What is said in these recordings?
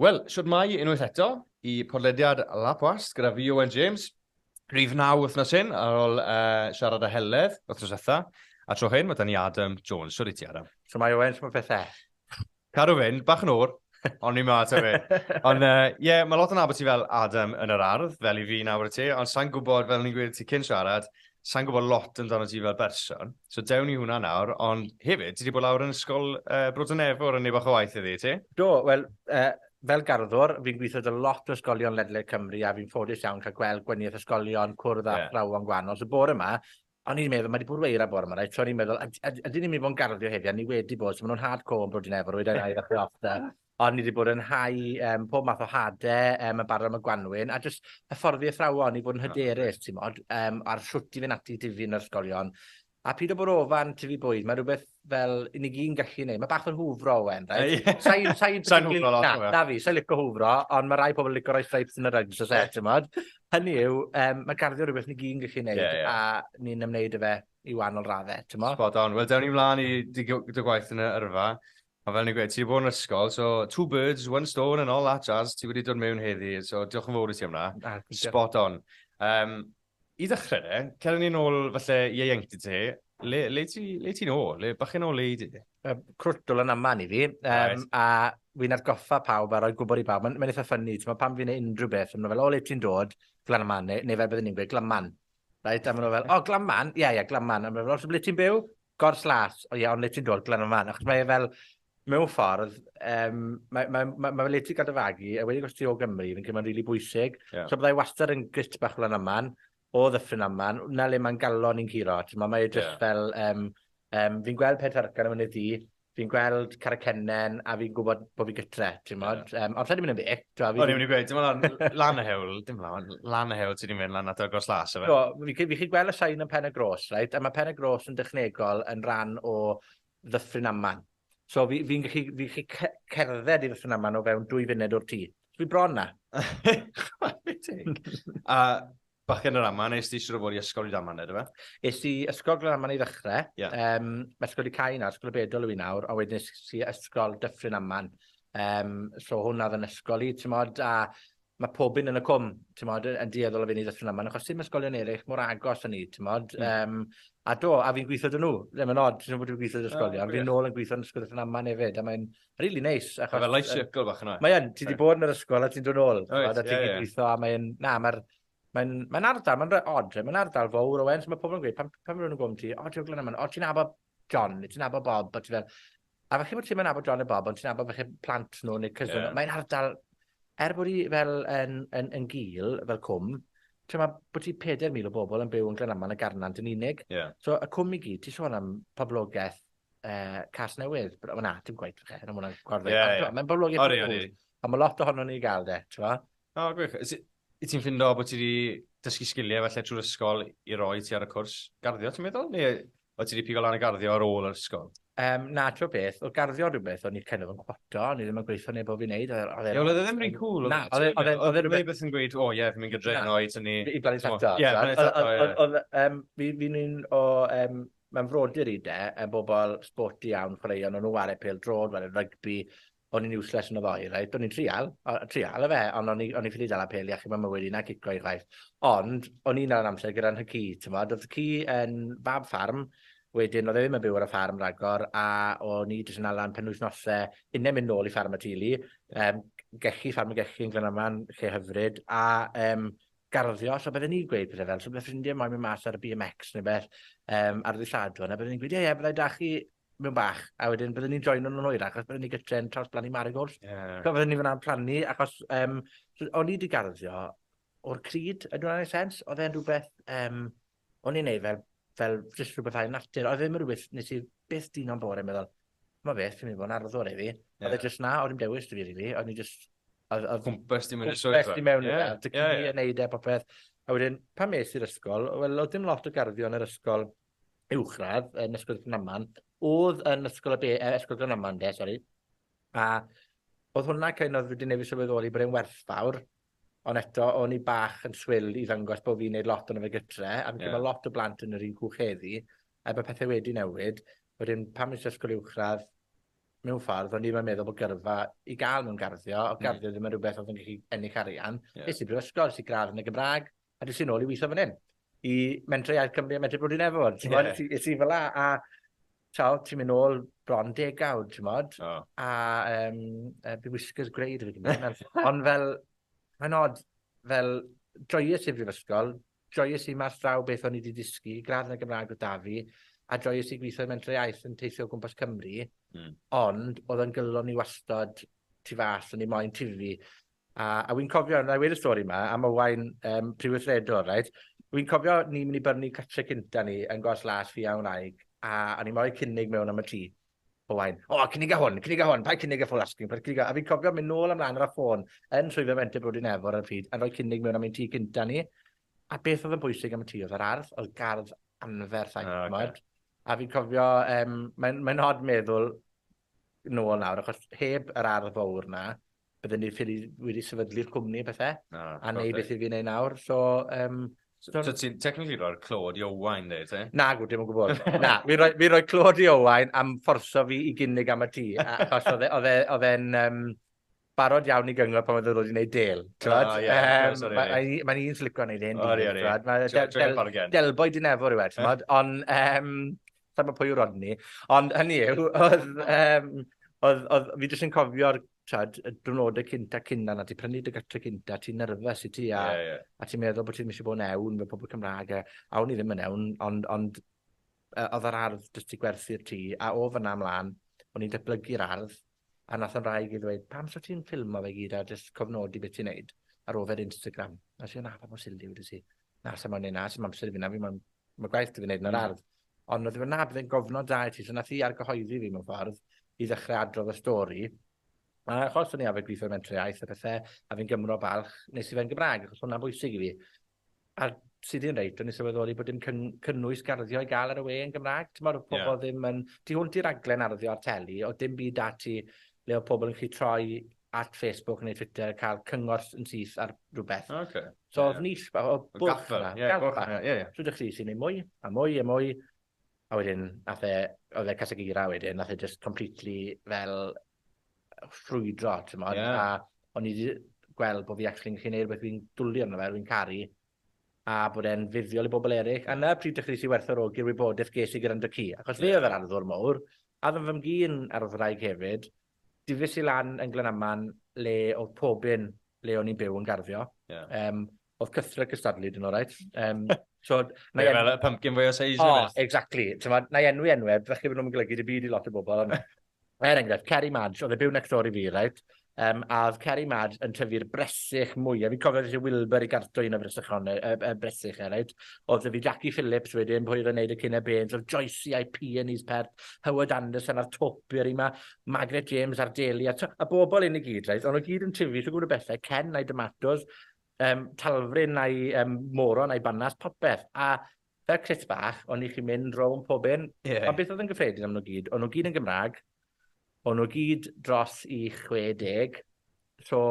Wel, siwt mai unwaith eto i podlediad Lapwast gyda fi Owen James. Rhyf naw wythnos hyn ar ôl uh, siarad â Heledd wythnos etha. A tro hyn, mae da ni Adam Jones. Siwr i ti, Adam. Siwt mai Owen, siwt mae pethau? Cadw fynd, bach yn o'r, ond ni'n math o fe. Ond ie, uh, yeah, mae lot yn abod ti fel Adam yn yr ardd, fel i fi nawr y ti, ond sa'n gwybod, fel ni'n gwybod ti cyn siarad, sa'n gwybod lot amdano ti fel berson. So dewn ni hwnna nawr, ond hefyd, ti wedi bod lawr yn ysgol uh, Brodon Nefwr yn ei bach o waith iddi, ti? Do, wel, uh, fel garddwr, fi'n gweithio dy lot o ysgolion ledled Cymru a fi'n ffodus iawn cael gweld gwaniaeth ysgolion, cwrdd a yeah. thrawon gwahanol. So bore yma, O'n i'n meddwl, mae wedi bod weira bore yma, reit? So o'n i'n meddwl, ydyn ni'n mynd i fod yn garddio heddi, a ni wedi bod, so maen nhw'n hardcore yn brod i'n efo, rwy'n ei ddau ddechrau off da. Ond ni wedi bod yn hau um, pob math o hade, um, yn barod am y gwanwyn, a jyst hyfforddi athrawon i fod yn hyderus, ti'n modd, um, ar shwt i fynd ati i difyr yn yr ysgolion. A pyd o bwrw ofan, tyfu bwyd, mae rhywbeth fel i ni gyn gallu gwneud. Mae bach fel hwfro, Owen, reit? Sa'i sa Sa'n hwfro lot, Owen. Na, fi, sa'i licio hwfro, ond mae rai pobl yn licio rhoi stripes yn y rugs, os eich, ti'n modd. Hynny yw, um, mae garddio rhywbeth ni gyn gallu gwneud, yeah, yeah. a ni'n ymwneud y fe i wahanol raddau, ti'n modd? Spot on. Wel, dewn ni mlaen i dy gwaith yn y yrfa. A fel ni'n gweud, ti wedi bod yn ysgol, so two birds, one stone and all that jazz, ti wedi dod mewn heddi, so diolch yn fawr i ti am na. Spot on. Um, I ddechrau de, cer ni'n ôl falle ieuenctid ti. Le, le ti'n le ti ôl? Le bach yn ôl i di? Um, crwtl yn aman i fi. Um, right. A fi'n atgoffa pawb a roi gwybod i bawb. Mae'n ma eitha ffynnu. Ti'n pan fi'n ei unrhyw beth, mae'n fel, o, le ti'n dod? Glan aman, neu, neu fel byddwn ni'n gweud, glanman. Right? A maen fel, o, oh, glanman? Ie, yeah, ie, yeah, glanman. A maen fel, os ble ti'n byw? Gors las. O ie, yeah, ond le ti'n dod? Glan aman. Achos mae e fel, Mewn ffordd, um, mae, mae, mae, mae le ti gael dy fagu, a wedi gwestiwn o Gymru, fi'n credu mae'n rili really bwysig. Yeah. So byddai wastad yn grit bach lan yma'n, o ddyffryn yma'n, na le mae'n galon ni'n curo. Mae mae jyst yeah. fel, um, um, fi'n gweld peth argan am ynydd di, fi'n gweld Caracennen, a fi'n gwybod bod fi gytre, ti'n modd. Yeah. Um, ond lle di mynd yn beth? O'n i'n mynd i gweud, dim ond lan y hewl, dim ond lan y hewl ti wedi mynd lan at agos las, efe? Do, fi, fi chi gweld y sain yn pen y gros, right? a mae pen y gros yn dechnegol yn rhan o Ddyffryn Aman. So fi fi'n gallu fi'n gallu ce- cerdded i Ddyffryn Aman o fewn dwy funud o'r tŷ. So fi bron 'na. Chwarae teg. A bachgen yr Aman, es di siŵr o fod i ysgol i Daman ydyfe? Es i ysgol Glanaman i ddechre. Ie. Yym, ma' ysgol 'di cau nawr, ysgol y Bedol yw 'i nawr, a wedyn es i ysgol Dyffryn Aman. Yym, so hwnna odd 'yn ysgol i, t'mod, a ma' pob un yn y cwm, t'mod, yy yn dueddol o fyn' i Ddyffryn Aman, achos ti'm ysgolion ereill mor agos â ni, t'mod? Hmm. Yym, a do, a fi'n gwitho 'da nw. Ie, ma'n od, dwi wedi gwitho 'da ysgolion. O, gwych. Fi nôl yn gwitho yn Ysgol Ddyffryn Aman hefyd, a mae'n rili neis, achos... Ma' fel life circle bach yna. Mae yn, ti 'di bod yn yr ysgol a ti'n dod nôl. Wyt, ie, ie. T'mod, a ti'n gallu gwitho, a mae'n... Na, ma'r, mae'n, mae'n ardal, mae'n re- od, mae'n ardal fowr, Owen, so ma' pobol yn gweud, pan, pan ma' rywun yn gofyn ti, 'O, ti o Glyn Aman?' 'O, ti'n nabod John, neu ti'n nabod Bob, a ti fel, a falle bod ti'n nabod John a Bob, ond ti'n nabod falle plant nhw neu cysyn. Yeah. Mae'n ardal, er bod i fel yn, yn, yn gil, fel cwm, ti'n ma, bod ti 4,000 o bobl yn byw yn Glenaman a Garnant yn unig. Yeah. So, y cwm i gyd, ti'n sôn am poblogaeth uh, cas newydd. Wel na, dim gwaith fe, yn ymwneud gorfod. Yeah, yeah. Mae'n poblogaeth. Ori, ori. A mae lot ohono ni i gael de, ti'n ma? O, gwych. Wyt ti'n ffindo bod ti wedi dysgu sgiliau falle trwy'r ysgol i roi ti ar y cwrs garddio, ti'n meddwl? Neu wyt ti wedi pigo lan y garddio ar ôl yr ysgol? Um, na, ti'n beth, o garddio rhywbeth o'n i'n kind of yn cwato, o'n i ddim yn gweithio neb o fi'n neud. Oedd e ddim rhy'n cool. Na, oedd e ddim e- e- e rhywbeth yn gweud, o ie, fi'n mynd gyda heno i tynnu... I blannu tato. Ie, blannu tato, ie. Oedd, um, fi'n un o, um, mae'n frodyr i de, yn bobl sporty iawn, chwaraeon, o'n nhw'n wario pel drod, wario rygbi, o'n i'n useless yn y ddoe, reit, o'n i'n trial, o- trial efe, ond o'n i o'n i ffili dala pêl i achub mam mywyd i na cico i chwaith. Ond, o'n i'n dal yn amser gyda nhw ci, t'mod, odd y ci yn fab ffarm, wedyn odd e ddim yn byw ar y ffarm ragor, a o'n i jyst yn ala am penwythnose, unne mynd nôl i ffarm y teulu, yym, gechi, ffarm y gechi yn Glynarfon, lle hyfryd, a yym, garddio, so bydden i'n gweud pethe fel, so bydde ffrindie moyn mynd mas ar y BMX ne' beth, yym, ar ddy' Sadwrn, a bydden i'n gweud, ie, ie, bydda i 'da chi mewn bach, a wedyn bydden ni'n joino nhw'n hwyrach, achos bydden ni gytre'n trawsblannu marigolds. Ie. So fydden ni fynna'n plannu, achos um, o'n i wedi garddio o'r cryd, ydw i'n ei sens? Oedd e'n rhywbeth, um, o'n i'n ei fel, fel jyst rhywbeth ail natur. Oedd e ddim yn rhywbeth nes i beth dyn o'n bore yn meddwl, mae beth, fi'n mynd i fod yn arddwr i fi. Yeah. Oedd e jyst na, oedd i'n dewis dy fi, really. Oedd i'n jyst... Cwmpas di mewn i'r swyddfa. Cwmpas di mewn i'r swyddfa. Dy cyn i yn neud e popeth. A wedyn, pan mes i'r ysgol, wel, oedd dim lot o garddio yn yr ysgol uwchradd yn Ysgol Glanman, odd yn Ysgol y be- yy Ysgol Glanman 'de, sori, a odd hwnna kind of, fi 'di newydd sylweddoli bod e'n werthfawr, ond eto, o'n i bach yn swil i ddangos bo' fi'n neud lot ono fe gytre, a fi'n credu ma' lot o blant yn yr un cwch heddi, er bo' pethe wedi newid, wedyn pan es i ysgol uwchradd, mewn ffordd, o'n i 'im yn meddwl bo' gyrfa i ga'l mewn garddio, odd garddio ddim yn rwbeth odd yn gallu ennill arian. Ie. Es i brifysgol, es i gradd yn y Gymrag, A des i nôl i weithio fan hyn, i Mentrau Iaith Cymru a Mentrau Bwdin Efo'r, t'mod? Ie. Es i fela a t'o', ti'n mynd nôl bron degawd, t'mod? O. A yym yy by whiskers grey 'da fi gyd nawr. Ond fel, mae'n od, fel, joies i'r brifysgol, joies i mas draw beth o'n i 'di dysgu, gradd yn y Gymraeg o'dd 'da fi, a joies i gwitho i Mentrau Iaith yn teithio o gwmpas Cymru. Hmm. Ond, odd o'n gyfle o'n i wastod tu fas, o'n i moyn tifu. A, a wi'n cofio, 'nai weud y stori 'ma, am Owain yym prifwythredwr reit? Wi'n cofio ni myn' i byrni catre cynta ni yn Gors Las fi a'n wraig, a o'n i mo'u cynnig mewn am y tŷ. Owain, O, cynniga hwn, cynniga hwn, paid cynnig y full asking price, cynniga... A fi'n cofio mynd nôl a mlan ar y ffôn yn Swyddfa Fenter Bro Dinefwr ar y pryd, a rhoi cynnig mewn am ein tŷ cynta ni. A beth oedd yn bwysig am y tŷ oedd yr ardd, oedd gardd anferth, a... O, oce. ...t'mod? A fi'n cofio, yym, mae'n mae'n od meddwl nôl nawr achos heb yr ardd fowr 'na bydden ni ffili wedi sefydlu'r cwmni a pethe. Na, hollol. A neud beth 'yf fi'n neud nawr so yym So so ti'n technically roi'r clod i Owain dde te? Nagw, dim o gwbwl. Na, fi roi fi roi clod i Owain am fforso fi i gynnig am y tŷ a- achos odd e odd e odd e'n yym barod iawn i gyngor pan oedd e wedi gwneud del. Mae'n un sy'n licio gwneud hyn. Delboi dyn efo rhywbeth, ti'n bod? Ond, ehm, sa'n bod pwy yw Rodney. Ond hynny yw, oedd, ehm, oedd, oedd, fi jyst yn cofio'r trad, y dwrnodau cynta cynna na ti prynu dy gytre cynta, ti'n nerfus i ti a, yeah, yeah. a ti'n meddwl bod ti'n eisiau bod yn ewn fe pobl Cymraeg a, a o'n i ddim yn ewn, ond, ond oedd yr ardd jyst i gwerthu'r tŷ a o fyna ymlaen, o'n i'n datblygu'r ardd A nath 'y mhraig i ddweud, pam so ti'n ffilmo fe gyd a jyst cofnodi beth ti'n neud ar ôl fe ar Instagram? A nes i, na, pa mor silly wyt ti? Na, sa mo'n neud na, sim amser i fi na, fi mo'n, ma' gwaith 'da fi neud yn yr hmm. ardd. Ond oedd e fel, na, byddai'n gofnod da i ti. So nath hi argyhoeddi fi mewn ffordd i ddechrau adrodd y stori. A achos o'n i arfer gweithio mewn mentrau iaith a pethau, a fi'n Gymro balch, nes i fe'n Gymraeg, achos hwnna'n bwysig i fi. A ti 'di reit, o'n i sylweddoli bod dim cyn, cynnwys garddio i gael ar y we yn Gymraeg. Ti'n meddwl pobl yeah. ddim yn... Ti hwnt i raglen arddio ar teli, o dim byd da ti le o pobl yn chi troi at Facebook neu Twitter a cael cyngor yn syth ar rhywbeth. Oh, okay. So, yeah, oedd nill, o, o bwch yna. Yeah, bwch yna, ie, ie. So, ydych chi sy'n ei mwy, a mwy, a mwy. A wedyn, nath e, oedd e Casagira wedyn, nath e just completely fel ffrwydro, ti'n modd, yeah. a o'n i wedi gweld bod fi actually'n gallu gwneud rhywbeth fi'n dwlu arno fe, fi'n caru, a bod e'n fuddiol i bobl eraill. A na pryd dechreuais i werthorogi'r wybodaeth ges i gyda'n dycu, achos fe oedd yr arddwr mowr, a ddim fy mgyn arddwraig hefyd, difis i lan yn Glanaman le oedd pobyn le o'n i'n byw yn garddio. Yeah. Um, Oedd cythre cystadlu, dyn nhw, right? Um, so, na yeah, fel y pumpkin fwy o seis. Oh, exactly. So, na i enwi enwau, ddech chi fod nhw'n golygu dy byd i lot o bobl. er enghraifft, Kerry Madge, oedd e byw next door i fi, right? Um, a oedd Kerry Mad yn tyfu'r bresych mwy. A fi'n cofio eisiau Wilbur i garto un o fresychon, y, y, y bresych e, right? Oedd fi Jackie Phillips wedyn, pwy oedd yn neud y cyn e bens, oedd Joyce a'i P yn is pert, Howard Anderson a'r top i'r yma, Margaret James a'r Daly, a, a bobl un i gyd, right? Ond o gyd yn tyfu, so gwybod y bethau, Ken a'i Domatos, um, talfryn a'i um, moron a'i banas, popeth. A fel crit bach, o'n i chi'n mynd rown pob un. Yeah. Ond beth oedd yn gyffredin am nhw gyd? O'n nhw gyd yn Gymraeg, o'n nhw gyd dros i 60, so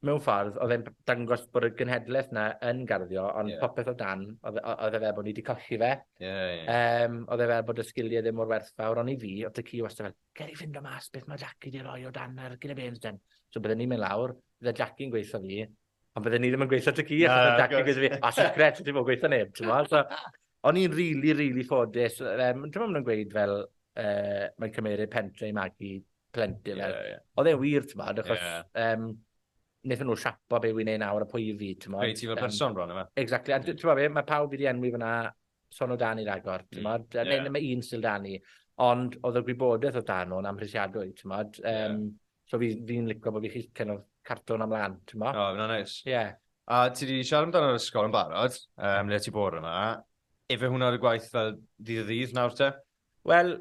mewn ffordd, oedd e'n dangos bod y gynhedlaeth yna yn garddio, ond yeah. popeth o dan, oedd e, e fel bod ni wedi colli fe. Yeah, yeah. Um, oedd e fel bod y sgiliau ddim mor werthfawr, ond i fi, oedd y ci wastad fel, ger i fynd o mas, beth mae Jackie di roi o dan ar gyda bens den. So byddwn ni'n mynd lawr, Byddai Jackie yn gweithio fi, ond byddai ni ddim yn gweithio tŷ ci, achos byddai Jackie yn gweithio fi. A secret, ti ddim yn gweithio neb, t'mod? So, o'n i'n rili, rili ffodus. Um, T'mod maen nhw'n gweud fel, uh, mae'n cymeryd pentre i magu plentyn. Yeah, fel. yeah. Oedd e'n wir, t'mod, achos... Yeah. Um, wnaethon nhw siapo be wy'n ei nawr a pwy i fi, ti'n Pwy ti fel person bron yma. Exactly, a ti'n meddwl be, mae pawb wedi enwi fyna son o dan i'r agor, ti'n meddwl, mm, yeah. neu mae un sy'n dan i, ond oedd y gwybodaeth oedd dan nhw'n amhrisiadwy, ti'n meddwl. Um, yeah. So fi fi'n lico bo' fi chi kind of cartlo wnna mlan t'mo'? O ma' wnna'n neis. Ie. A ti 'di siarad amdano yr ysgol yn barod yym le ti bore 'ma. Ife hwnna dy gwaith fel ddydd o ddydd nawr te? Wel,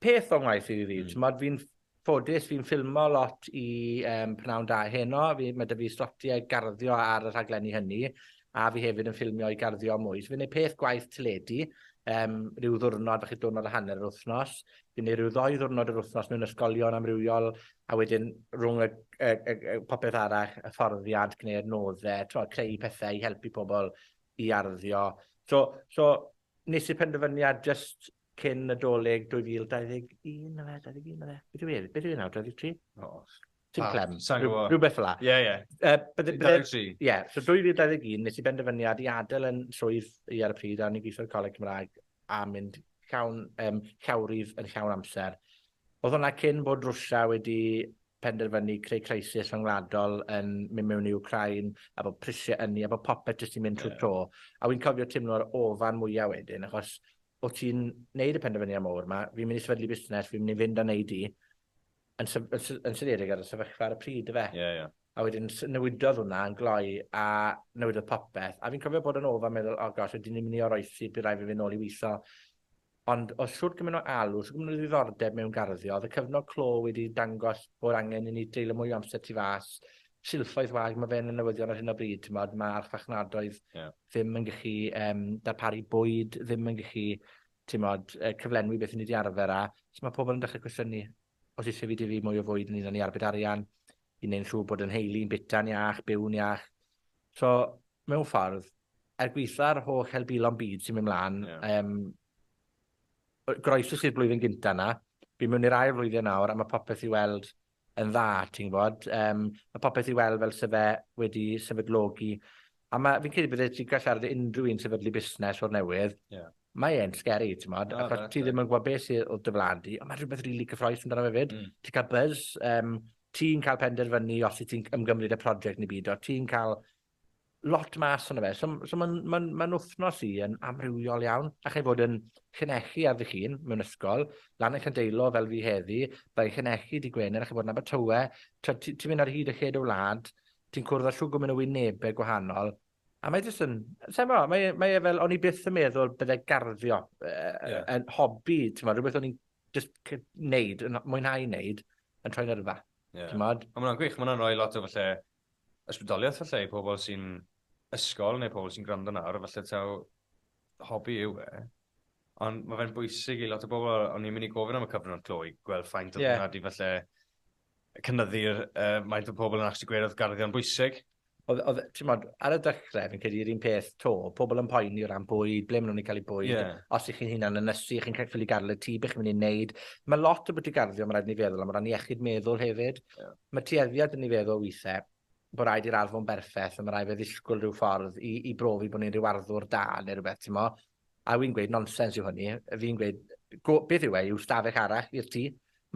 peth o'n ngwaith i ddydd o ddydd. T'mod fi'n ffodus fi'n ffilmo lot i yym Prynhawn Da heno fi ma' 'dy fi slotie garddio ar y rhaglenni hynny. a fi hefyd yn ffilmio i garddio mwy. So fi'n neud peth gwaith teledu, um, rhyw ddwrnod, falle diwrnod a hanner yr wythnos. Fi'n neud rhyw ddoi ddwrnod yr wythnos mewn ysgolion amrywiol, a wedyn rhwng y, y, y, y popeth arall, y fforddiad, gwneud nodde, tro, creu pethau i helpu pobl i arddio. So, so nes i penderfyniad just cyn y doleg 2021, na fe, 21, na fe. Beth yw e? Beth yw e nawr, 23? O, Tim Clem, rhywbeth fel la. Ie, ie. 23. Ie, so 2021, nes i benderfyniad i adael yn swydd i ar y pryd, a o'n i'n gweithio ar y Coleg Cymraeg, a mynd llawn, um, llawrydd yn llawn amser. Oedd hwnna cyn bod Rwysia wedi penderfynu creu crisis rhyngwladol yn mynd mewn i Ukraine, a bod prisiau ynni, a bod popeth jyst i'n mynd trwy yeah. tro. A wy'n cofio teimlo'r ofan mwyaf wedyn, achos o ti'n neud y penderfyniad mawr yma, fi'n mynd i sefydlu busnes, fi'n mynd i fynd a neud i, Yn, sy yn, sy yn syniedig ar y sefyllfa ar y pryd, y fe. Ie, yeah, ie. Yeah. A wedyn newidodd hwnna yn gloi a newidodd popeth. A fi'n cofio bod yn ôl fan meddwl, o oh gosh, ydyn ni'n mynd i oroesi, bydd rhaid fi fynd nôl i weithio. Ond oedd siwrt gymaint o alw, siwrt gymaint o ddiddordeb mewn garddio, oedd y cyfnod clo wedi dangos bod angen i ni dreulio mwy o amser tu fas, silffoedd wag, mae fe'n y newyddion ar hyn o bryd, ti'n modd, mae archfachnadoedd yeah. ddim yn gallu um, darparu bwyd, ddim yn gallu timod, yy cyflenwi beth 'yn ni 'di arfer â. So ma' pobol yn dechre cwestiynu os isie fi dyfu mwy o fwyd ynglŷn â ni arbed arian, i neud yn siŵr bod 'yn nheulu yn bita'n iach, byw'n iach. So, mewn ffordd, er gwitha'r holl helbulon byd sy'n myn' mlan... Ie. ...yym, yy groesus i'r blwyddyn gynta 'na, fi mewn i'r ail flwyddyn nawr a ma' popeth i weld yn dda ti'n gwybod. Yym ma' popeth i weld fel se fe wedi sefydlogi a ma' fi'n credu bydde ti'n gallu siarad i unrhyw un sefydlu busnes o'r newydd. Ie. Yeah. Mae e'n scary t'mod oh, achos ti ddim yn gwybod beth sydd o dy flan di ond mae rhywbeth rili really cyffroes amdano fe fyd. Mm. Ti'n cael buzz, um, ti'n cael penderfynu os ti'n ymgymryd y prosiect neu byd, o ti'n cael lot mas yna fe. So, so mae'n ma ma wythnos i yn amrywiol iawn. Allai fod yn llinellu ar ddych chi'n mewn ysgol, lan yn Llandeilo fel fi heddi, byddai'n llinellu dy Gwener, allai fod yn Abertawe, ti'n ti, ti mynd ar hyd y lle dy wlad, ti'n cwrdd â siwgwm yn y wynebau gwahanol, a mae jyst yn, sa'n mo, mae, e, mae e fel, o'n i byth yn meddwl byddai garddio uh, yeah. yn hobi, ti'n mo, rhywbeth o'n i'n just neud, yn mwynhau neud, yn troi'n yrfa. Yeah. Ond mae'n gwych, mae'n rhoi lot o falle ysbrydoliaeth falle i pobl sy'n ysgol neu pobl sy'n gwrando nawr, falle taw hobi yw e. Ond mae fe'n bwysig i lot o bobl, o'n i'n mynd i gofyn am y cyfnod clo i gweld ffaint o yeah. hwnna di falle cynnyddu'r uh, maint o pobl yn actually gweud oedd garddion bwysig. Oedd, ti'n modd, ar y dechrau, fi'n credu yr un peth to, pobl yn poeni o ran bwyd, ble maen nhw'n ei cael ei bwyd, yeah. os ych chi'n hunan yn ysu, chi'n cael ffili garle ti, beth chi'n mynd i'n neud. Mae lot o bwyty garddio, mae'n rhaid ni feddwl am ran iechyd meddwl hefyd. Yeah. Mae tueddiad 'da ni feddwl withe bo raid i'r ardd fo'n berffeth a ma raid fe ddisgwl rhyw ffordd i i brofi bo ni'n rhyw arddwr da ne rwbeth t'mo? A wi'n gweud nonsens yw hynny, fi'n gweud go- beth yw e yw stafell arall i'r tŷ,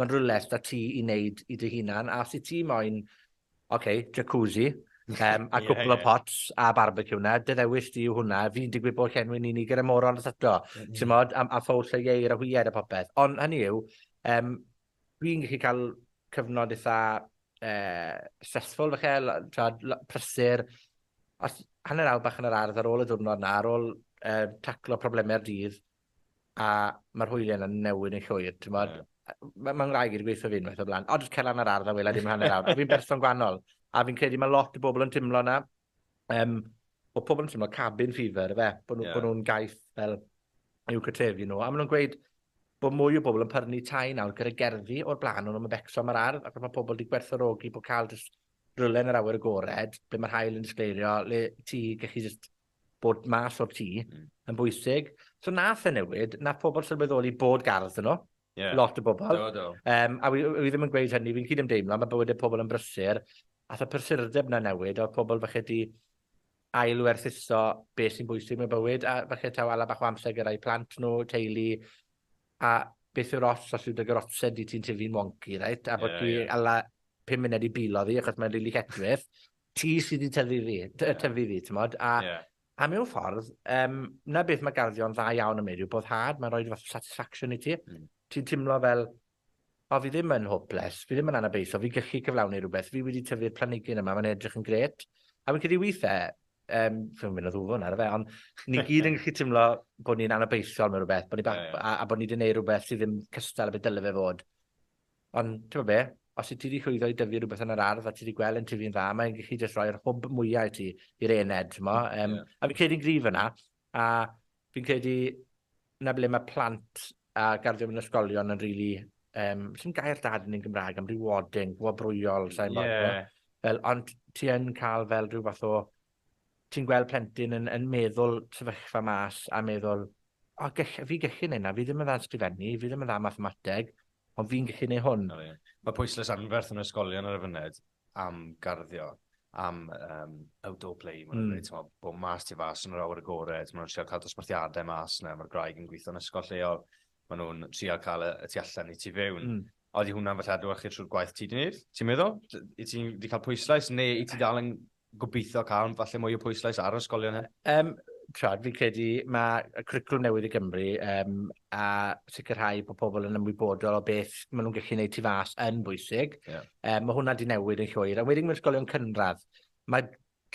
ma'n rwle s'da ti i neud i dy hunan a os wyt ti moyn ok jacuzzi yym a cwpwl o pots a barbeciw 'na dy ddewis di yw hwnna, fi'n digwydd bo llenwi'n unig gyda morons eto t'mod a a ffowls a ieir a hwyed a popeth ond hynny yw yym Dwi'n gallu cael cyfnod eitha eh, stressful falle, t'wod lo- prysur. Os hanner awr bach yn yr ardd ar ôl y diwrnod 'na, ar ôl eh, taclo probleme'r dydd, a mae'r hwylie yna'n newid yn llwyr, t'mod? Ie. Mae ma' ngwraig i 'di gweutho fi unwaith o'r blaen, 'O jyst cer lan yr ardd a wela dim hanner awr', a fi'n berson gwanol, a fi'n credu ma' lot o bobl yn timlo 'na. Um, bod pobl yn teimlo cabin fever, fe, bod nhw'n yeah. nhw gaeth fel i'w cytrefu nhw. A maen nhw'n gweud bod mwy o bobl yn pyrnu tai nawr gyda gerddi o'r blaen o'n nhw'n becso am yr ardd, ac mae pobl wedi gwerthorogi bod cael jyst rhywle yn yr awyr agored, ble mae'r hael yn disgleirio, le ti gallu jyst bod mas o'r tŷ, mm. yn bwysig. So nath e newid, nath pobl sylweddoli bod gardd yn nhw, Ie. Lot o bobol. Do do. Yym a wi w- wi ddim yn gweud hynny, fi'n cydymdeimlo, ma' bywyde pobol yn brysur, ath y prysurdeb 'na newid, a odd pobol falle 'di ail werthuso be' sy'n bwysig mewn bywyd, a falle taw ala bach o amser gyda'u plant nw, teulu, a beth yw'r ots os yw dy garotse di ti'n tyfu'n wonci reit, a bo' ti ala pum munud i bilo ddi achos mae'n rili lletchwith, ti sy 'di tyfu fi, ty- yy tyfu fi t'mod, a... Ie. A mewn ffordd, yym, 'na beth ma' garddio yn dda iawn am neud yw boddhad, mae'n rhoi ryw fath o satisfaction i ti. Hmm. Ti'n timlo fel, o, fi ddim yn hopeless, fi ddim yn anabeithiol, fi'n gallu cyflawni rhywbeth, fi wedi tyfu'r planigyn yma, mae'n edrych yn gret. A fi'n credu withe, um, fi'n mynd o ddwfwn ar y fe, ond ni gyd yn gallu timlo bod ni'n anabeithiol mewn rhywbeth, bod ni bach, a, a bod ni wedi gwneud rhywbeth sydd ddim cystal a beth dyle fe fod. Ond, t'mod be', os wyt ti 'di llwyddo i dyfu rwbeth yn yr ardd a ti 'di gwel' e'n tyfu'n dda, mae'n gallu jyst rhoi'r hwb mwya i ti, i'r aeaned, t'mo'? Mm, ie. Yym, a fi'n credu'n gryf yna, a fi'n credu 'na ble ma' plant a garddio mewn ysgolion yn rili, yym, sdim gair da 'da ni yn Gymra'g am rewarding, gwobrwyol, sai'n gwbod. Ie. Fel, ond ti yn ca'l fel rhyw fath o Ti'n gweld plentyn yn yn meddwl sefyllfa mas a meddwl o gell- fi gellu neud 'na, fi ddim yn dda yn sgrifennu, fi ddim yn dda mathemateg, ond fi'n gellu neu hwn. O ie. Mae pwyslais anferth yn ysgolion ar y fyned am garddio, am um, outdoor play, maen nhw'n mm. dweud, ti'n bod mas ti fas yn yr awyr agored, maen nhw'n trio cael dosbarthiadau mas yna, mae'r graig yn gweithio'n ysgol lleol, maen nhw'n trio cael y, y tu allan i tu fewn. Mm. Odi hwnna'n falle adlewyrchu trwy'r gwaith ti 'di neud, ti'n meddwl? Wyt ti 'di cael pwyslais neu wyt ti dal yn gobeithio cael falle mwy o pwyslais ar yr ysgolion hyn? Yym, t'mod, fi'n credu ma' y cwricwlwm newydd i Gymru, yym, a sicrhau bod pobl yn ymwybodol o beth ma' nhw'n gallu neud tu fas yn bwysig. Ie. Yym, ma' hwnna 'di newid yn llwyr. A wedyn mewn ysgolion cynradd, ma'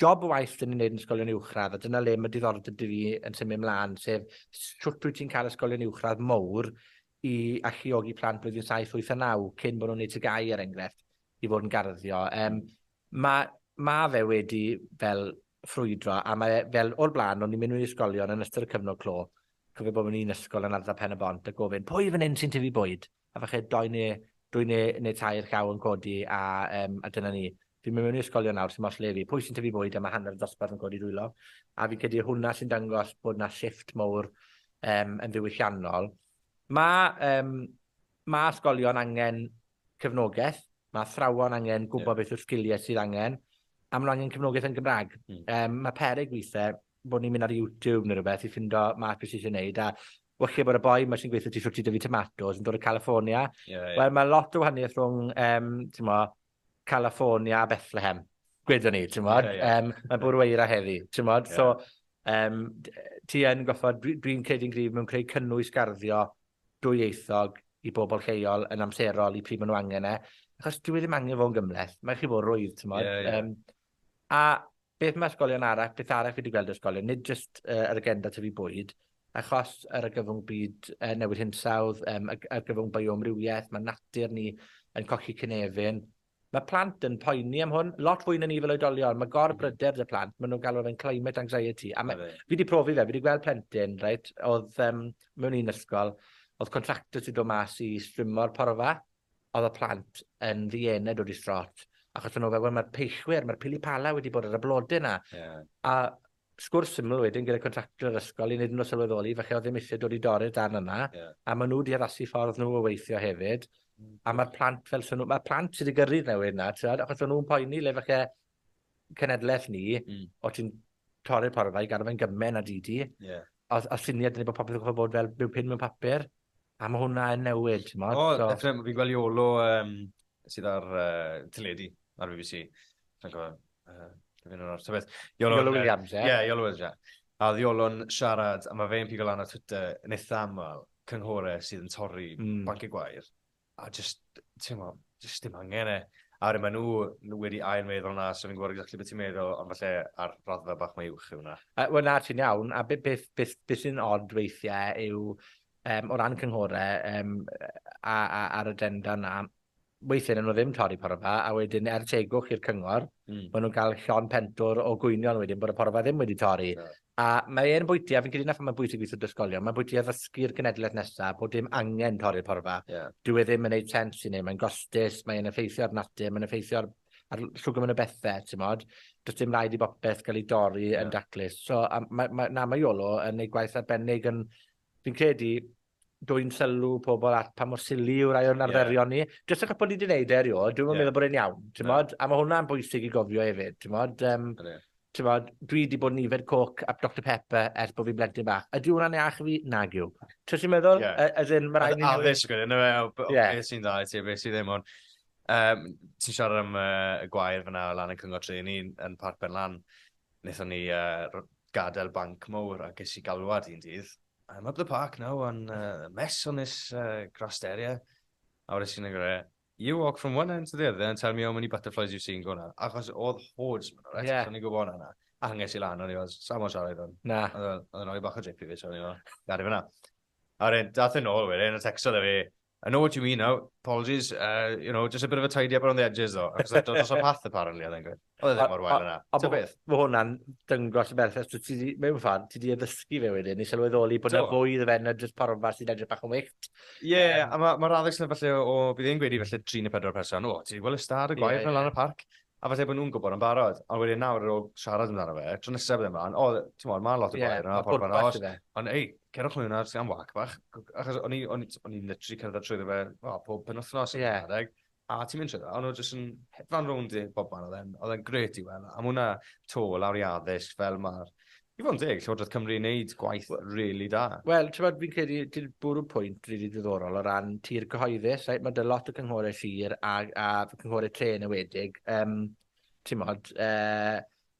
job y waith 'dyn ni'n neud yn ysgolion uwchradd, a dyna le ma' diddordeb 'da fi yn symud mlan, sef shwt wyt ti'n ca'l ysgolion uwchradd mowr i alluogi plant blwyddyn saith, wyth a naw, cyn bo' nw'n neud TGAU er enghraifft, i fod yn garddio. Yym ma' ma' fe wedi fel ffrwydro a mae e fel o'r bla'n o'n i'n mynd mewn i ysgolion yn ystod y cyfnod clo, cofio bod mewn un ysgol yn ardal Pen-y-bont a gofyn pwy fan 'yn sy'n tyfu bwyd? A falle dou ne' dwy ne' ne' tair llaw yn codi a yym a dyna ni. Fi myn mewn i ysgolion nawr sim ots le fi, pwy sy'n tyfu bwyd a ma hanner y dosbarth yn codi dwylo, a fi'n credu hwnna sy'n dangos bod 'na shifft mowr yym yn ddiwylliannol. Ma' yym ma' ysgolion angen cefnogeth, ma' athrawon angen gwbo... Ie. ...beth yw'r sgilie sydd angen, a ma' nw angen cefnogeth yn Gymra'g. Hmm. Yym ma' peryg withe bo' ni'n myn' ar YouTube ne' rwbeth i ffindo mas be' sy isie neud a walle bod y boi 'ma sy'n gweu' 'tho ti shwt i dyfu tomatos yn dod o California. Ie ie. Wel ma' lot o wahanieth rhwng yym t'mo' California a Bethlehem, gwedwn ni, t'mod? Ie, ie. Yym, ma' bwrw eira heddi, t'mod? Ie. So, yym, d- ti yn goffod... Dwi, dwi'n credu'n gryf mewn creu cynnwys garddio dwyieithog i bobl lleol yn amserol i pryd ma' nw angen e, achos dyw e ddim angen fo' yn gymhleth, mae chi fo' rwydd, t'mod? Ie, ie. Yym. A beth ma' ysgolion arall, beth arall fi 'di gweld ysgolion, nid jyst yy yr agenda tyfu bwyd, achos yr argyfwng byd yy newid hinsawdd, yym ag- argyfwng bioamrywieth, ma' natur ni yn colli cynefin. Ma' plant yn poeni am hwn, lot fwy na ni fel oedolion. Ma' gorbryder 'da plant, ma' nw'n galw fe'n climate anxiety, a ma'... Odi. ...fi 'di profi fe, fi 'di gweld plentyn reit, odd yym mewn un ysgol, odd contractors 'di do' mas i strimmo'r porfa, Oedd y plant yn ddiened o distrot, achos o'n nhw fel, wel, mae'r peillwyr, mae'r pili pala wedi bod ar y blodau yna. Yeah. A sgwrs syml wedyn gyda contractor yr ysgol i wneud nhw sylweddoli, falle oedd ddim eisiau dod i dorri'r darn yna, yeah. a maen nhw wedi addasu ffordd nhw o weithio hefyd. Mm. A mae'r plant fel swn nhw, mae'r plant sydd wedi gyrru'r newid yna, achos o'n nhw'n poeni le falle cenedlaeth ni, mm. o ti'n torri'r porfa i gadw fe'n gymen a di di, yeah. a, a syniad ni bod popeth yn gwybod bod fel byw pyn mewn papur, a mae hwnna yn newid, ti'n modd? O, so... definitely, fi'n gweld Iolo um, sydd ar uh, teledu, ar BBC, fi'n gwybod, uh, fi'n o'r tybeth. Iolo, Iolo Williams, ie? Yeah. yeah, Iolo Williams, ie. Yeah. A oedd Iolo'n siarad, a mae fe'n pigo lan ar Twitter yn eitha aml, cynghore sydd yn torri mm. banciau gwair. a jyst, ti'n mo, jyst dim angen e. A wedyn maen nhw wedi ail meddwl hwnna, so fi'n gwybod exactly beth ti'n meddwl, ond falle ar raddfa bach mae uwch yw hwnna. Uh, Wel na, ti'n iawn, a beth, beth, beth, beth sy'n odd weithiau yw, um, o ran cynghorau um, a, a, ar y denda na, weithiau nhw ddim torri porfa, a wedyn er tegwch i'r cyngor, mm. maen nhw'n cael llon pentwr o gwynion wedyn bod y porfa ddim wedi torri. Yeah. A mae e'n bwyty a fi'n credu 'na phan mae'n bwysig i ysgolion, mae'n bwyty i addysgu'r genedleth nesa bod dim angen torri'r porfa. Ie. Dyw e ddim yn neud sens i neb, mae'n gostus, mae e'n effeithio ar natur, mae'n effeithio ar ar l- shwgwm yn y bethe, t'mod? Do's dim raid i bopeth ga'l 'i dorri yn daclus. So, a ma' ma' na ma' Iolo yn neud gwaith arbennig yn fi'n credu dwyn sylw pobl at pa mor silly yw rai o'n arferion ni. Yeah. Jyst achos bod ni wedi gwneud e erioed, dwi'm yn yeah. meddwl bod e'n iawn, ti'n no. A mae hwnna'n bwysig i gofio hefyd, ti'n modd. Um, ti'n modd, dwi wedi bod yn yfed coc a Dr Pepper ers bod fi'n blentyn bach. Ydy hwnna'n iach i fi? Nag yw. Ti'n ti'n meddwl? Yeah. As in, mae rhaid ni... Addysg gwneud, no, beth sy'n dda i ti, beth sy'n ddim ond. Um, ti'n siarad am uh, y gwair fyna o lan yn cyngor tri, ni'n yn Parc Ben Lan. Wnaethon ni gadael banc mowr a ges i galwad un dydd. I'm up the park now on a mess on this grassed area. A wedes i wrtho fe, you walk from one end to the other and tell me how many butterflies you've seen go 'na. Achos o'dd hordes myn 'na reit. Ie. So o'n i'n gwbo hwnna 'na. A pan ges i lan o'n i fel sai'n mo'yn siarad i hwn. Na. O'dd o'n roi bach o drip i fi so o'n i fel garu fe 'na. A wedyn dath e nôl wedyn a tecstodd e fi I know what you mean now, apologies, uh, you know, just a bit of a tidy up around the edges though, achos oedd dod o path apparently, oedd e'n gweud. Oedd e ddim mor wael yna. Ta beth? Mae hwnna'n dyngos y berffaith, dwi ti, mewn ffordd, ti di addysgu fe wedyn, i sylweddoli bod yna fwy iddo fe na jyst porfa sy'n edrych bach yn wyllt. Ie, yeah, um, a mae'r ma addysg yna falle o, bydd e'n gweud i falle 3 neu 4 person, o, ti wedi gweld y stad y gwaith yeah, yeah. lan y parc, A falle bod nhw'n gwybod yn barod, ond wedyn nawr ar ôl siarad amdano fe, tro nesaf bydd e mlaen, o, ti'n modd, mae lot o boer yna, porfa yna, os... Ond ei, cerwch nhw yna, sy'n am wac bach, achos o'n i'n literally cerdded trwy fe, o, pob pen wythnos, yeah. adeg, a ti'n mynd trwy fe, ond nhw'n jyst yn hedfan rownd i bob man, oedd e'n gret i weld, a mwna to lawr i addysg, fel mae'r I fod yn deg, Llywodraeth Cymru yn neud gwaith really da. Wel, ti'n bod, fi'n credu, ti'n bwrw pwynt really ddiddorol o ran tir cyhoeddus, right? Mae dy lot o cynghorau sir a, a cynghorau tre yn ywedig, um, ti'n bod, uh,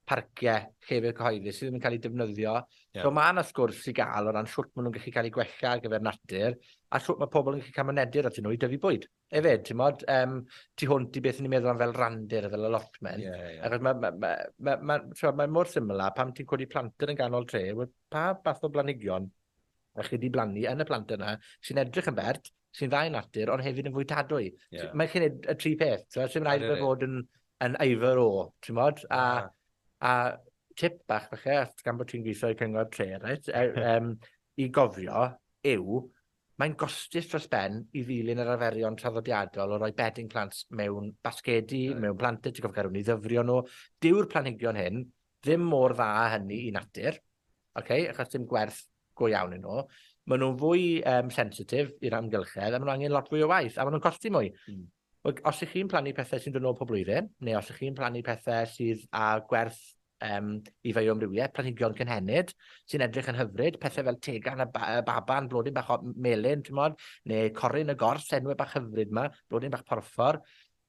parciau llefydd cyhoeddus sydd ddim yn cael eu defnyddio. Yeah. So mae yna sgwrs i gael o ran sut maen nhw'n gallu cael eu gwella ar gyfer natur a sut mae pobl yn gallu cael mynediad at nhw i dyfu bwyd. Hefyd, t'mod, yym, tu hwnt i beth 'yn ni'n meddwl am fel randir a fel allotment... Ie, ie. ...achos ma' ma' ma' ma' ma' t'mod, mae mor syml â pan ti'n codi planter yn ganol tre, wel pa fath o blanhigion 'ych chi 'di blannu yn y planter 'na, sy'n edrych yn bert, sy'n dda i natur, ond hefyd yn fwytadwy? Ie. T- mae chi'n neud y tri peth, t'mo'? Sim raid i fe fod yn yn either or, t'mod? A a tip bach falle, os gan bo' ti'n gwitho i Cyngor Tre, reit, yy yym, i gofio yw Mae'n gostus dros ben i ddilyn yr arferion traddodiadol o roi bedding plant mewn basgedi, mewn planter, ti'n gorfod cael rhywun i ddyfrio nhw. Dyw'r planhigion hyn ddim mor dda â hynny i natur, okay? achos dim gwerth go iawn yn nhw. Maen nhw'n fwy um, sensitif i'r amgylchedd a maen nhw angen lot fwy o waith a maen nhw'n costi mwy. Mm. Wel, os 'ych chi'n plannu pethe sy'n dod nôl pob blwyddyn, neu os 'ych chi'n plannu pethe sydd â gwerth um, i fioamrywiaeth, planhigion cynhenid, sy'n edrych yn hyfryd, pethau fel tegan a ba baban, blodyn bach o melyn, ti'n modd, neu corin y gors, enwau bach hyfryd yma, blodyn bach porffor.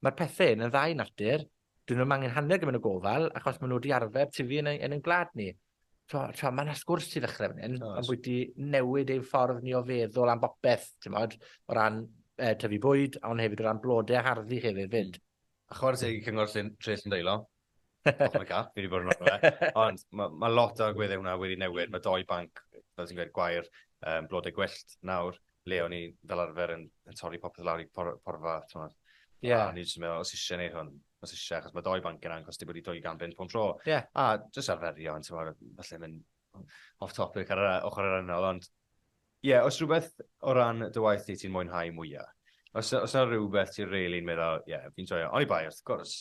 Mae'r pethau hyn yn ddau natur, 'dyn nw'm angen hanner gymaint o gofal, achos ma' nw 'di arfer tyfu yn ein yn ein gwlad ni. T'mo' t'mo' ma' 'na sgwrs i ddechre fan 'yn. Oes. Ambwyty newid ein ffordd ni o feddwl am bopeth, t'mod? O ran yy tyfu bwyd, ond hefyd o ran blode a harddu hefyd 'fyd. A chware teg i Cyngor Llyn Tref Llyndeilo. Off my cap, fi 'di bod yn arno fe. Ond ma' ma' lot o agwedde hwnna wedi newid. Ma' dou banc, fel ti'n gweud, gwair, yym blode gwyllt nawr. le o'n i fel arfer yn, yn torri popeth lawr i por, porfa, ti'n Ie. Yeah. A ni jyst yn meddwl, os eisiau neud hwn, os eisiau, achos mae doi banc yna yn costio bod i 200 bunt pob tro. Ie. Yeah. A jyst arferio, yn ti'n meddwl, falle mynd off topic ar yr ochr yr anol, ond ie, yeah, os rhywbeth o ran dy waith ti ti'n mwynhau mwyaf, os, os yna rhywbeth ti'n reili'n really meddwl, ie, yeah, fi'n joio, oni bai, wrth gwrs,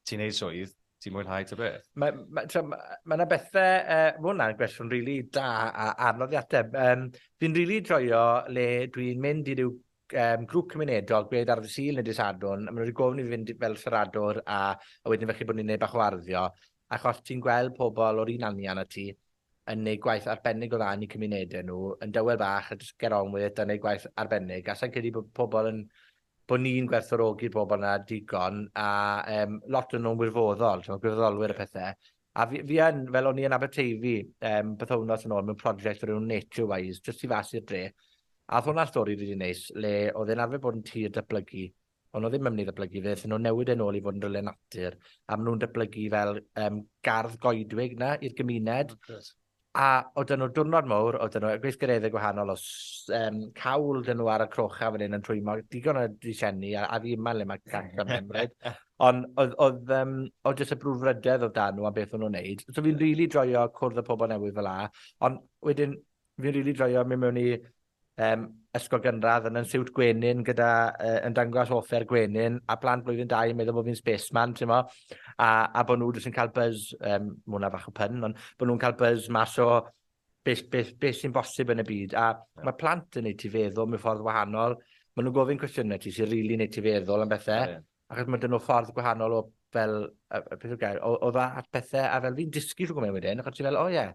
ti'n neud swydd, ti'n mwynhau ta beth? Mae ma', t'mo' ma' ma' 'na bethe yy ma' wnna'n gwestiwn rili da a anodd i ateb. Yym fi'n rili joio le dwi'n mynd i ryw yym grŵp cymunedol, gwed ar ddy' Sul ne' dy' Sadwrn, a ma' nw 'di gofyn i fi fynd fel siaradwr a a wedyn falle bod ni'n neud bach o arddio, achos ti'n gweld pobol o'r un anian â ti, yn gwneud gwaith arbennig o dda yn eu cymunedau nhw, yn dawel bach a jyst get on with it a wneud gwaith arbennig, a sa i'n credu bod pobl yn, bod ni'n gwerthfawrogi'r bobl yna digon, a um, lot o'n nhw'n wirfoddol, ti'n gwirfoddolwyr a pethau. A fi, fi yn, fel o'n i yn Aberteifi, um, bythownos yn ôl mewn prosiect o'r enw Nature Wise, jyst i fas i'r dre, A oedd hwnna'n stori rili neis, le oedd e'n arfer bod yn tir datblygu, O'n nhw ddim yn mynd i ddatblygu fe, ddyn nhw newid e'n ôl i fod yn rhywle natur, a maen nhw'n datblygu fel um, gardd goedwig na i'r gymuned. Oh, a oedd nhw diwrnod mawr, oedd nhw gweithgareddau gwahanol, o um, cawl dyn nhw ar y crocha fan hyn yn trwymo, digon o disenni, a, a fi yma le mae gant o'n ymwneud. Ond oedd, oedd, um, oedd jyst y brwdfrydedd oedd dan nhw am beth o'n nhw'n neud. So fi'n rili really joio cwrdd y pobl newydd fel la, ond wedyn Fi'n rili joio mynd mewn i um, ysgol gynradd yn yn siwt gwenyn gyda uh, yn dangos offer gwenyn a blant blwyddyn 2 yn meddwl bod fi'n spaceman, ti'n mo? A, a bod nhw jyst yn cael buzz, um, mae hwnna fach o pyn, ond bod nhw'n cael buzz mas o beth, beth, beth sy'n bosib yn y byd. A yeah. mae plant yn neud ti feddwl mewn ffordd wahanol. Mae nhw'n gofyn cwestiynau ti sy'n rili really neud ti feddwl am bethau. Yeah. Achos mae dyn nhw ffordd gwahanol o fel, y peth o gael, o, o dda at pethau. A fel fi'n dysgu rhywbeth mewn wedyn, achos ti fel, o oh, ie, yeah,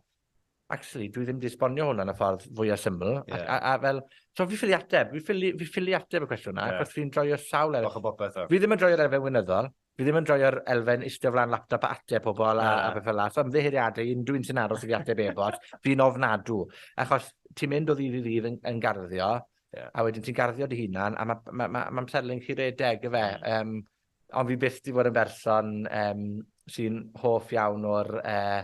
actually, dwi ddim wedi esbonio hwnna yn y ffordd fwyaf syml. Yeah. A, a, a, fel, so fi ffili ateb, fi ffili, fi ffili ateb y cwestiwn yna, yeah. achos fi'n droi'r sawl elfen. Bach o bopeth. Fi ddim yn droi'r elfen wynyddol, fi ddim yn droi'r elfen istio flan laptop a ateb pobl a, yeah. a beth fel la. So ymddeheiriadau, unrhyw un sy'n aros i fi ateb e-bot, fi'n ofnadw. Achos ti'n mynd o ddydd i ddydd yn, yn garddio, yeah. a wedyn ti'n garddio dy hunan, a mae'n ma, ma, ma, ma selling chi redeg, y fe. Mm. Um, ond fi byth di fod yn berson um, sy'n hoff iawn o'r... Uh,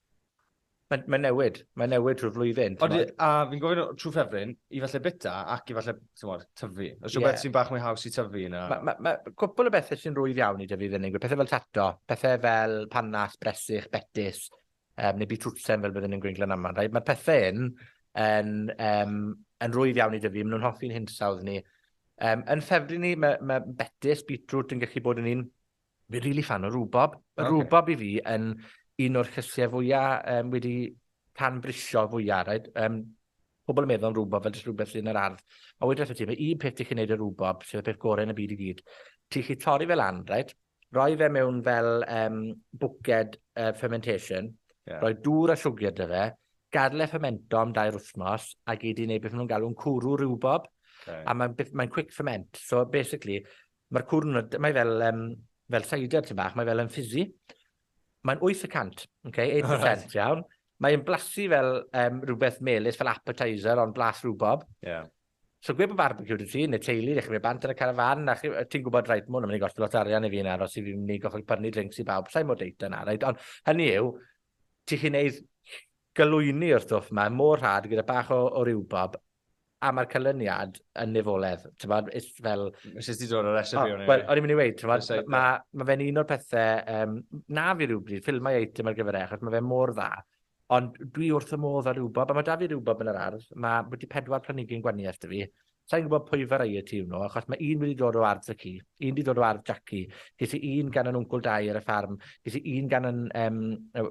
Mae'n mae newid, mae'n newid trwy'r flwyddyn. Ond, a fi'n gofyn trwy ffefryn, i falle bita ac i falle, ti'n modd, tyfu. Os yeah. beth sy'n bach mwy haws i tyfu yna. Mae ma, ma, cwpl o bethau sy'n rwydd iawn i dyfu fyny. ni'n pethau fel tato, pethau fel panas, bresych, betis, um, neu bitwtsen fel byddwn ni'n gwneud glan aml. Right? Mae'r pethau hyn yn, um, yn rwydd iawn i dyfu, maen nhw'n hoffi'n hinsawdd ni. Um, yn ffefryn ni, mae, ma betis, beetroot yn gallu bod yn un Fi'n rili ffan o rwbob. Mae okay. rwbob i fi yn un o'r llysiau fwya um, wedi can brisio fwya. Right? Um, pobl yn meddwl am rwbob fel jyst rhywbeth sy'n yr ardd. A wedi wrth ti, mae un peth ti'n gwneud y rwbob, sydd y peth gorau yn y byd i gyd. Ti'n chi torri fel lan, right? roi fe mewn fel um, bwced uh, fermentation, yeah. roi dŵr a siwgr dy fe, gadle fermento am dair wythnos, a gyd i wneud beth nhw'n galw'n cwrw rhywbob, okay. a mae'n mae quick ferment. So basically, Ma'r cwrn, mae fel, um, fel cider tyn bach, mae fel yn ffizi. Mae'n 8 y cant, oce, 8%, right. iawn. Mae'n blasu fel um, rhywbeth melus, fel appetizer, ond blas rhywbob. Yeah. So gwe bod barbecue dy ti, neu teulu, ddech chi'n mynd bant yn y carafan, a ti'n gwybod, rhaid, mwyn yn mynd i gosti lot arian i fi yna, os i fi'n mynd i gochod pyrnu drinks i bawb, sa'i mor deit yna, rhaid, ond hynny yw, ti'n chi'n neud galwyni o'r stwff yma, mor rhad gyda bach o, o rywbob, a mae'r canlyniad yn nifoledd. Tybod, fel... Nes ti dod o'r recipe o'n i. Wel, o'n i'n mynd i weid, tybod, mae ma fe'n un o'r pethau, um, na fi rhywbryd, ffilmau eitem ar gyfer e, achos mae fe mor dda. Ond dwi wrth y modd â rhywbeth, a mae da fi rhywbeth yn yr ardd, mae wedi pedwar planigyn gwaniaeth da fi. Sa'n gwybod pwy fe rai y tîm nhw, achos mae un wedi dod o ardd y ci, un wedi dod o ardd Jackie, ges i un gan yn wncwl dau ar y ffarm, ges i un gan yn, um,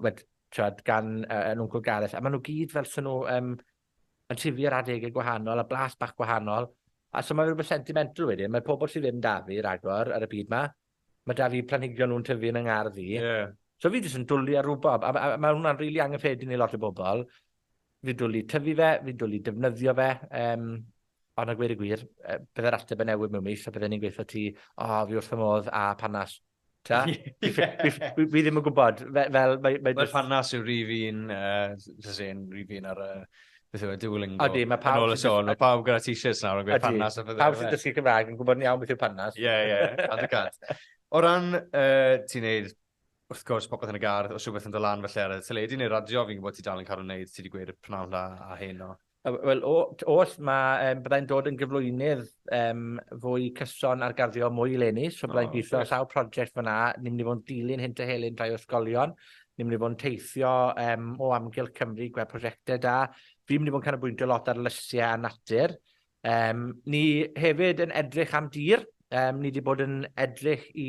wed, gan uh, yn wncwl Gareth, a maen nhw gyd fel sy'n nhw um, yn tyfu ar adege gwahanol, a blas bach gwahanol, a so ma' fe rwbeth sentimental wedyn. Mae pobol sy ddim 'da fi ragor ar y byd 'ma, ma' 'da fi planhigion nw'n tyfu yn 'y ngardd i. Ie. So fi jyst yn dwli ar rwbob, a ma' a ma' hwnna'n rili angyffredin i lot o bobol. Fi'n dwli tyfu fe, fi'n dwli defnyddio fe, yym, ond a gweud y gwir, yy, bydde'r ateb yn newid mewn mis, a bydden i'n gweu' 'tho ti, O, fi wrth fy modd â pannas. Ta? fi, ddim yn gwybod. Fe, fel, mae... Mae just... panas yw rif un, uh, rif un ar y... Beth yw e, Duolingo. Odi, mae pawb... Yn ôl y sôn, mae pawb gyda t-shirts nawr yn gweud panas. Odi, pawb sy'n dysgu Cymraeg yn gwybod ni iawn beth yw panas. Ie, ie, ond y gant. O ran, uh, ti'n neud, wrth gwrs, popeth yn y gardd, os rhywbeth yn dod lan felly ar y teledu neu radio, fi'n gwybod ti dal yn cael ei wneud, ti wedi gweud y pnawn da a hyn o. Wel, o- t- oll ma' yym byddai'n dod yn gyflwynydd yym fwy cyson ar garddio mwy eleni, so byddai'n gwitho ar sawl project fan 'na, ni myn' i fod yn dilyn hyn a hyn rhai o ysgolion, ni myn' i fod yn teithio yym o amgylch Cymru i gwel' prosiecte da. Fi myn' i fod yn canolbwyntio lot ar lysie a natur. Yym ni hefyd yn edrych am dir, yym ni 'di bod yn edrych i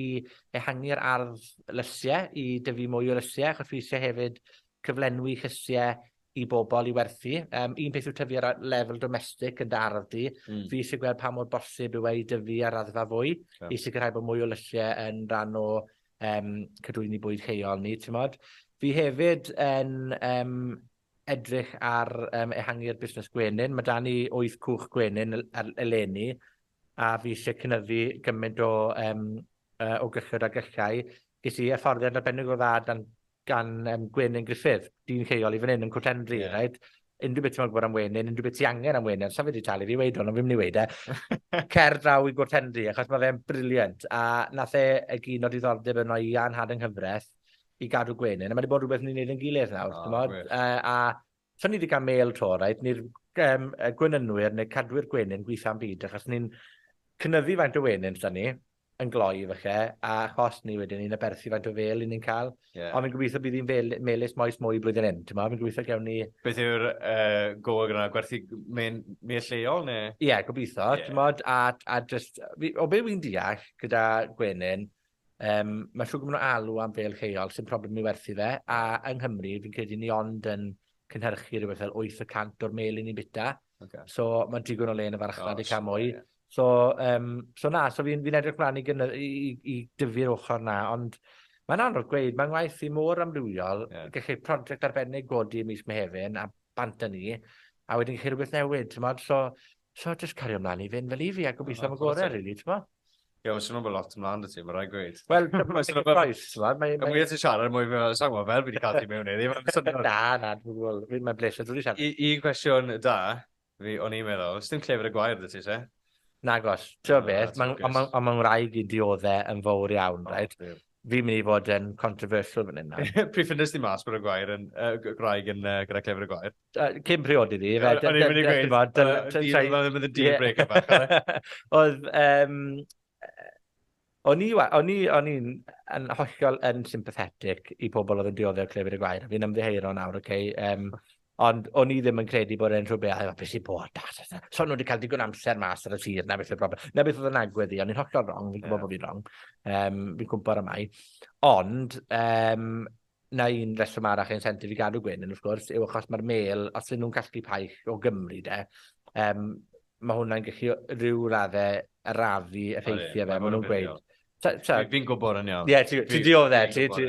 ehangu'r ardd lysie, i dyfu mwy o lysie, achos fi isie hefyd cyflenwi llysie i bobl i werthu. Um, un peth yw tyfu ar lefel domestig yn dy ardd di. Mm. Fi eisiau gweld pa mor bosib yw ei i dyfu ar raddfa fwy yeah. i sicrhau bod mwy o lylliau yn rhan o um, cadwyni bwyd lleol ni, ti'n modd. Fi hefyd yn um, edrych ar um, ehangu'r busnes gwenyn. Mae da ni wyth cwch gwenyn eleni, a fi eisiau cynyddu gymaint o, um, uh, o gyllod a gyllau. Ges i hyfforddiant arbennig o dda dan gan yym Gwenyn Griffith, dyn lleol i fan 'yn yn Cwt Hendry. Ie. Reit? Unrhyw beth ti'n moyn gwbod am wenyn, unrhyw beth ti angen am wenyn, sa fe 'di talu fi i weud hwn, ond fi myn' i weud e. Cer draw i Gwt Hendry, achos ma' fe'n brilliant, a nath e egino diddordeb yno i Iân Harding Nghyfres i gadw gwenyn, a ma' 'di bod rwbeth ni'n neud ein gilydd nawr. O, gwych. T'mod? Yy a Sa ni 'di ga'l mêl 'to, reit, ni'r gem- yy gwenynwyr ne' cadwyr gwenyn gwitha'n byd, achos ni'n cynyddu faint o wenyn s'da ni, yn gloi falle, a achos 'ny wedyn ni'n aberthu faint o fêl 'yn ni'n ca'l. Ie. Ond fi'n gobitho bydd 'i'n feli- melys moes mwy blwyddyn hyn, t'mo'? Fi'n gobitho gewn ni... Beth yw'r yy gof gyda gwerthu mên- mêl lleol ne'? Ie, gobitho. Ie. T'mod, a a jyst, fi, o be' wi'n deall gyda gwenyn, Yym, ma' shwd ma' nw alw am bêl lleol, sim problem i ni werthu fe, a yng Nghymru, fi'n credu ni ond yn cynhyrchu rwbeth fel wyth y cant o'r mêl 'yn ni'n bita. Oce. So, ma' digon o le yn y farchnad i ca'l mwy. O's, ie. So yym, so na, so fi'n fi'n edrych mlan i gyn- yy i i i dyfu'r ochor 'na, ond mae'n anodd gweud, ma' ngwaith i mor amrywiol. Ie. Gellu project arbennig godi ym mis Mehefin a bant â ni, a wedyn gellu rwbeth newid, t'mod? So, So just cario mlaen i fynd fel i fi a gobeithio am y gorau, rili, ti'n mo? Ie, mae'n swnio'n bod lot ymlaen dy ti, mae'n rhaid gweud. Wel, mae'n swnio'n bod... Y mwy ti'n siarad, mwy fi'n meddwl, sa'n gwybod fel fi wedi cael ti mewn iddi. Na, na, dwi'n gwybod, mae'n bleser, dwi'n wedi siarad. Un cwestiwn da, fi o'n i'n meddwl, sdim clefyd y gwair dy ti, se? Nagos. Ti'n beth, ond mae'n rhaid i dioddau yn fawr iawn, rhaid? Fi'n mynd i fod yn controversial fan hyn nawr. Pryd ffynnest ti mas bod y gwair yn, uh, graig yn uh, gyda clefyd y gwair? Uh, cyn priodi fi. O'n i'n mynd i gweud, oedd y deal breaker bach. Oedd, um, o'n i, o'n i, o'n i'n yn hollol yn sympathetic i pobl oedd yn dioddef clefyd y gwair. Fi'n ymddiheuro nawr, oce? Okay? Um, Ond o'n i ddim yn credu bod e'n rhywbeth, a beth sy'n bod, da, da, da. So nhw wedi cael digon amser mas ar y sir, na beth yw'r broblem. Na beth oedd yn agwedd i, ond i'n hollol wrong, fi'n gwybod yeah. bod fi'n wrong. Um, fi'n cwmpa ar amau. Ond, um, na un reswm arach ein sentif i gadw gwyn, yn wrth gwrs, yw achos mae'r mel, os ydyn nhw'n casglu paich o Gymru, de, um, mae hwnna'n gallu rhyw raddau arafu effeithiau fe, maen nhw'n gweud. Fi'n gwybod yn iawn. Ie, ti'n diolch e, ti.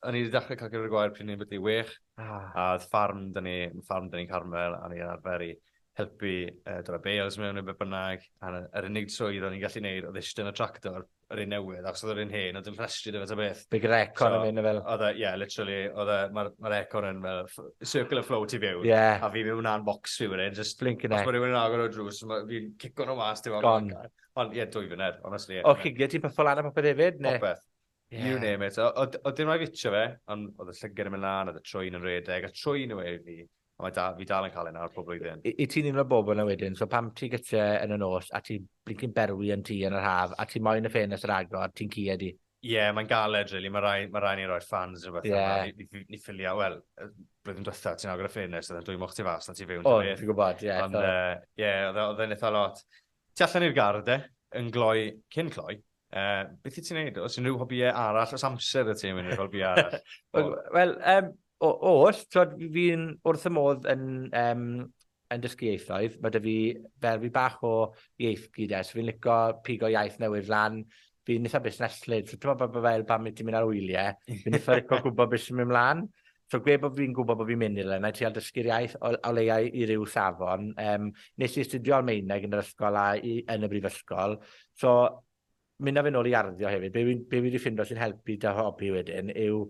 O'n i wedi dechrau cael gyda'r gwair pryd ni'n byddu wych, ah. a oedd ffarm dyn ni, ffarm dyn ni'n Carmel, a ni'n arfer i helpu uh, dod â bales mewn neu beth bynnag, a yr unig swydd o'n i'n gallu gwneud oedd eistedd yn y tractor, yr un newydd, ac oedd yr un hen, oedd yn rhestri dy fe ta beth. Big yr econ yn mynd fel. Oedd e, ie, literally, oedd e, mae'r econ yn fel, circular flow ti fewn, yeah. a fi mewn na'n box fi wedyn, just... Blink yn e. Os mae rhywun yn agor o drws, fi'n cico nhw mas, ti'n meddwl, Ond ie, dwy funud, honestly. O, chigiau ti'n pyffo lan a popeth hefyd? Ne? Popeth. Yeah. You name it. Oedd dim rhaid fitio fe, ond oedd y llygad yn mynd lan, oedd y trwy'n yn redeg, a trwy'n yw e i fi. A mae da, fi dal yn cael ei nawr pob blwyddyn. I, i ti'n un o'r bobl yna wedyn, so pam ti gytre yn y nos, a ti'n blincyn berwi yn ti yn yr haf, a ti'n moyn y ffenest yr agor, ti'n cied i? Ie, yeah, mae'n galed, really. Mae rai, ma rai ni roi'r fans yn rhywbeth yeah. yma. Ni, ni ffilio, wel, blwyddyn diwetha, ti'n agor y ffenest, oedd yn dwy moch ti fas, na ti fewn. O, ti'n gwybod, ie. Ond, ie, oedd e'n eitha lot. Tu allan i'r gardd de, yn gloi, cyn cloi, uh, beth i ti'n neud? Os unrhyw hobïau arall, os amser y ti'n mynd i'r hobïau arall? Wel, um, oll, fi'n wrth y modd yn, um, yn dysgu ieithoedd. Mae dy fi ferfi bach o ieith gyd es. Fi'n licio pigo iaith newydd lan. Fi'n eitha busneslyd. So, ti'n meddwl bod fel pan mi ti'n mynd ar wyliau, fi'n eitha licio gwybod beth sy'n mynd mlaen. So gwe bo' fi'n gwbo bo' fi'n myn' i rywle nâi trial dysgu'r iaith o o leia i i ryw safon. Yym nes i astudio Almaeneg yn yr ysgol a i yn y brifysgol, so myn' â fe nôl i arddio hefyd. Be' fi'n be' fi 'di ffindo sy'n helpu 'da hobi wedyn yw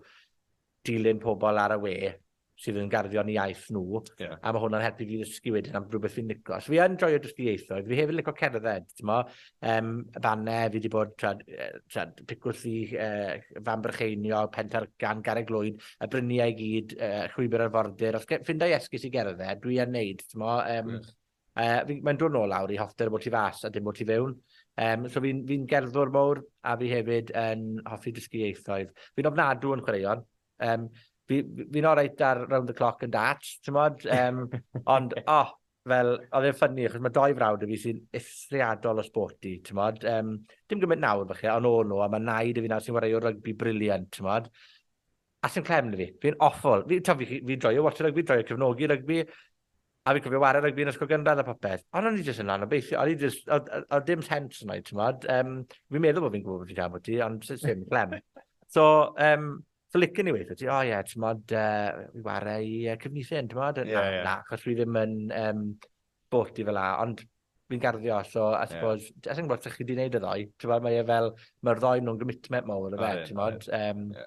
dilyn pobol ar y we sydd yn garddio yn 'u iaith nw. Ie. A ma' hwnna'n helpu fi i ddysgu wedyn am rwbeth fi'n lico. So fi yn joio dysgu ieithoedd. Fi hefyd yn lico cerdded, t'mo'? Um, fanne, fi wedi bod trad, trad picwrth i uh, fan brycheinio, pentar gan gareg lwyd, y bryniau i gyd, uh, llwybr arfordir. Os ffindau esgus i gerdded, dwi yn neud. Um, yes. uh, Mae'n dod nôl lawr i hoffter bod ti fas a dim bod ti fewn. Um, so fi'n fi gerddwr mowr a fi hefyd yn hoffi dysgu ieithoedd. Fi'n ofnadw yn chwaraeon, Um, fi'n fi, fi oreit ar round the clock yn dat, ti'n modd? Um, ond, oh, fel, oedd e'n ffynnu, achos mae doi frawd y fi sy'n eithriadol o sporty, ti'n modd? Um, dim gymaint nawr, falle, ond o'n nhw, a mae naid y fi nawr sy'n wario rygbi briliant, ti'n modd? A sy'n clem fi, fi'n awful. Fi'n fi, fi, fi droio watch rygbi, droio cefnogi rygbi, A fi'n cofio ware rygbi yn ysgol gynradd a popeth. Ond o'n i jyst yn anobeithio. O'n i jyst... Oedd oedd dim sens yna i, t'mod? Yym, fi'n meddwl bod fi'n gwybod beth fi'n siarad ambwti, ond sut ddim, clem. So, um, so licen i weithio ti, o ie, t'mod, uh, i ware i uh, Cefnithin, t'mod? Ie, ie. Na, achos fi ddim yn um, sporty fel la, ond fi'n garddio, so I Ie. suppose, yeah. as yn gwybod sut chi wedi gwneud y ddoe, t'mod, mae e fel, mae'r ddoe nhw'n gymutmet mawr, o fe, t'mod? Ie. Um, Ie.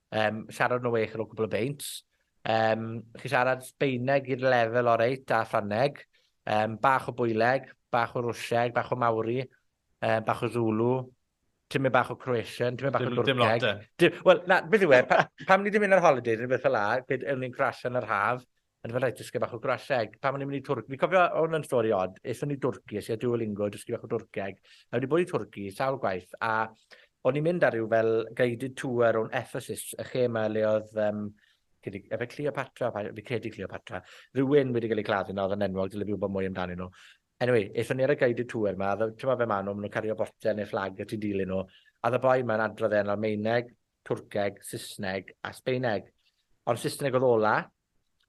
Um, siarad nhw eich ar ôl cwbl o beint. Um, chi siarad Sbeineg i'r lefel o reit a Ffrangeg. Um, bach o bwyleg, bach o rwsieg, bach o mawri, um, bach o Zulu, Ti'n mynd bach o Croatian, ti'n mynd bach o Dwrceg. Dim lot e. Wel, na, beth yw e, pa, pam ni ddim mynd ar holidays yn beth fel la, beth yw'n ni'n crasio yn yr haf, Ond mae'n rhaid dysgu bach o Gwraseg. Pan o'n i'n mynd i Twrc, fi'n cofio hwn yn stori od. Ethon ni Dwrci, es i ar Duolingo dysgu bach o Dwrceg, a fi 'di bod i Twrci sawl gwaith, a o'n i'n mynd ar ryw fel guided tour o'n Ephesus, y lle 'ma le oedd um, chi 'di efe Cleopatra, pa- fi credu Cleopatra, rhywun wedi cael ei claddu 'na oedd yn enwog, dyle fi wybod mwy amdani nhw. Anyway, ethon ni ar y guided tour 'ma, a fel, t'mo' fel ma' nhw, ma' nhw'n cario botel neu fflag a ti'n dilyn nhw, a o'dd y boi 'ma'n adrodd e yn Almaeneg, Twrceg, Sysneg a Sbeineg. Ond Sysneg oedd ola.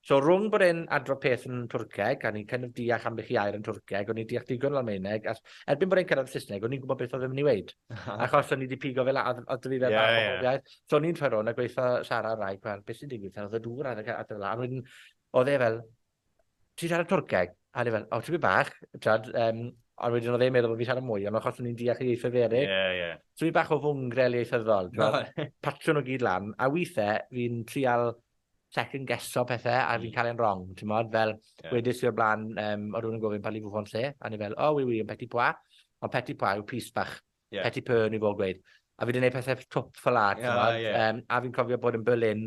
So rhwng bod e'n adrodd peth yn Twrceg, a ni'n kind of deall ambell i air yn Twrceg, o'n i'n deall digon o Almaeneg, a erbyn bod e'n cyrraedd Saesneg, o'n i'n gwybod beth oedd yn mynd i weid. Achos o'n i wedi pigo fel, oedd oedd fi fel yeah, bach yeah. iaith. So o'n i'n troi rôn a gweithio Sara rai, gweld beth sy'n digwydd, oedd y dŵr a dda fel, a wedyn, oedd e fel, ti'n siarad Twrceg? A o'n i fel, o, tipyn bach, t'wod, yym, ond wedyn odd e'n meddwl bo' fi'n siarad mwy, ond achos o'n i'n deall y ieithoedd eryll... Ie, ie. ...so fi bach o fwngrel ieithyddol, t'mod? Reit. Patsio nw gyd lan, a withe fi'n trial second guesso pethe a fi'n ca'l e'n rong, t'mod? Fel... Ie. ...wedes i o'r bla'n, yym, o' rywun yn gofyn parlez-vous français? A o'n i fel, oh oui, oui, un petit pois. Ond petit pois yw pys bach. Ie. Petit peu o'n i fod gweud. A fi 'di neud pethe twp ffel 'a, t'mod? Ie, ie. Yym, a fi'n cofio bod yn Berlin,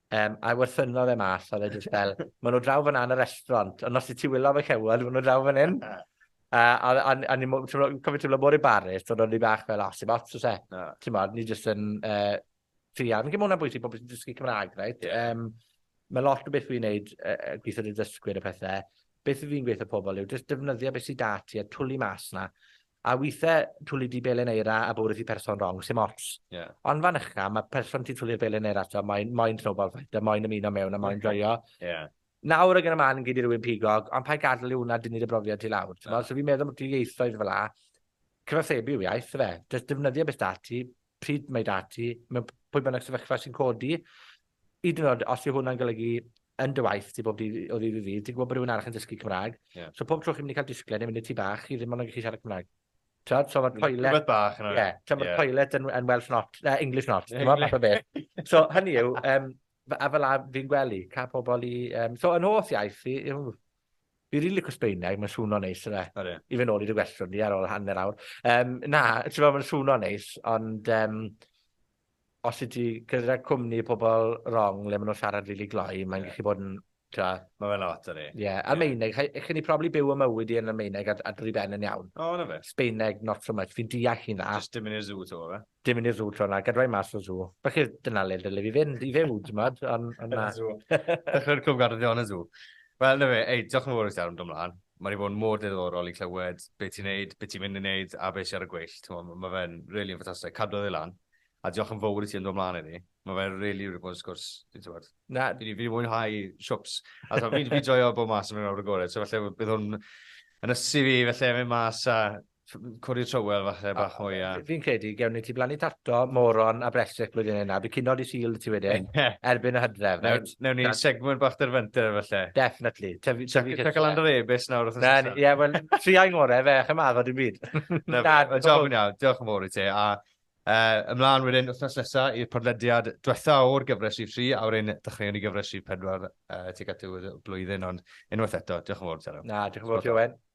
Um, I wrthynno fe mas, oedd e jyst fel, maen nhw draw fan yn y restaurant, ond os ti wylo fe cewod, maen nhw draw fan hyn. Uh, a, a, a ni'n cofio teimlo mor embarrassed, ond o'n i bach fel, os i'n ots, os e. No. Ti'n modd, ni jyst yn uh, trian. Fi'n mwyn am bwysig pobl sy'n dysgu Cymraeg, right? Yeah. Um, mae lot o beth fi'n neud, uh, gweithio dy dysgwyr y pethau, beth fi'n gweithio pobl yw, jyst defnyddio beth sy'n dati a twli mas na. A withe twli di belen eira a bwrw ti person rong, sim ots. Ie. Ond fan ycha, ma person ti'n twli'r belen eira ato moyn, moyn snowball fight, a moyn ymuno mewn, a moyn joio. Ie. Nawr ag yn y man gei di rywun pigog, ond paid gadl i hwnna dynnu dy brofiad ti lawr, t'mod? So fi'n meddwl ambwti ieithoedd fel'a, cyfathrebu yw iaith, yfe? Jyst defnyddio be' s'da ti, pryd mae 'da ti, mewn p- pwy bynnag sefyllfa sy'n codi, hyd yn o'd os yw hwnna'n golygu yn dy waith ti bob dydd o ddydd i ddydd, ti'n gwbod bo' rywun arall yn dysgu Cymra'g. Ie. So pob tro chi'n myn' i ca'l disgled ne' myn' i'r tŷ bach, chi ddim ond yn gallu siarad Cymra'g. T'od? So ma'r toilet... Rhywbeth bach yna. Ie. T'od ma'r toilet yn yn Welsh not, na English not, t'mo' fath o beth. So hynny yw, yym, f- a fela fi'n gwely, ca' pobol i, yym... So 'yn hoff iaith i yw Fi rili lico Sbaeneg, mae'n swno neis yfe? Odi. E? I fy nôl i dy gwestiwn di ar ôl hanner awr. Um, na, ti'n meddwl mae'n swno neis, ond um, os i ti gyda cwmni pobl wrong le maen nhw'n siarad rili really gloi, mae'n yeah. gallu bod yn... Tja. Mae fe'n lot ar ei. Ie, yeah. Almeineg, yeah. chyn i probably byw y mywyd i yn Almeineg a, a drwy ben yn iawn. O, oh, na fe. Sbaeneg, not so much. Fi'n deall hynna. Just dim yn i'r zoo to, fe? Dim yn y sŵ tro 'na, gadwai mas o'r sŵ. Felly dyna le dyle fi fynd i fyw, t'mod, on' on' na. Yn y sŵ. Dechre'r clwb garddio yn y sŵ. Wel, 'na fe, ei, diolch yn fowrus iawn, do mlan. Ma' 'di bod yn mor ddiddorol i clywed be' ti'n neud, be' ti'n mynd i neud, a be' sy ar y gweill, t'mo', ma' fe'n rili yn ffantastig, cadw e lan, a diolch yn fowr i ti am do' mlan heddi. Ma' fe rili wedi bod yn sgwrs, fi'n t'mod, Na. fi 'di fi 'di mwynhau shwps, a t'mod fi'n fi'n joio bod mas a mynd lawr y gore, so falle bydd hwn yn ysu fi falle mynd mas a Codi trywel falle bach mwy a... Fi'n credu, gewn ni ti blannu tato, moron a bresych blwyddyn yna. Bydd cynod i syl ti wedyn, erbyn y hydref. Newn ni segmwnt bach dy'r fynter falle. Definitely. Tyfu cysylltu. Cael lan yr ebys nawr wrth ymwneud. Ie, wel, tri a'i ngore fe, chym addo dim byd. Na, fe, job yn iawn, diolch yn fawr i ti. A ymlaen wedyn wythnos nesaf i'r podlediad diwetha o'r gyfres rhif 3, a wedyn dechreuwn ni gyfres rhif 4 tuag at y blwyddyn, ond unwaith eto, diolch yn fawr, Tero. Na, diolch yn fawr, Jowen.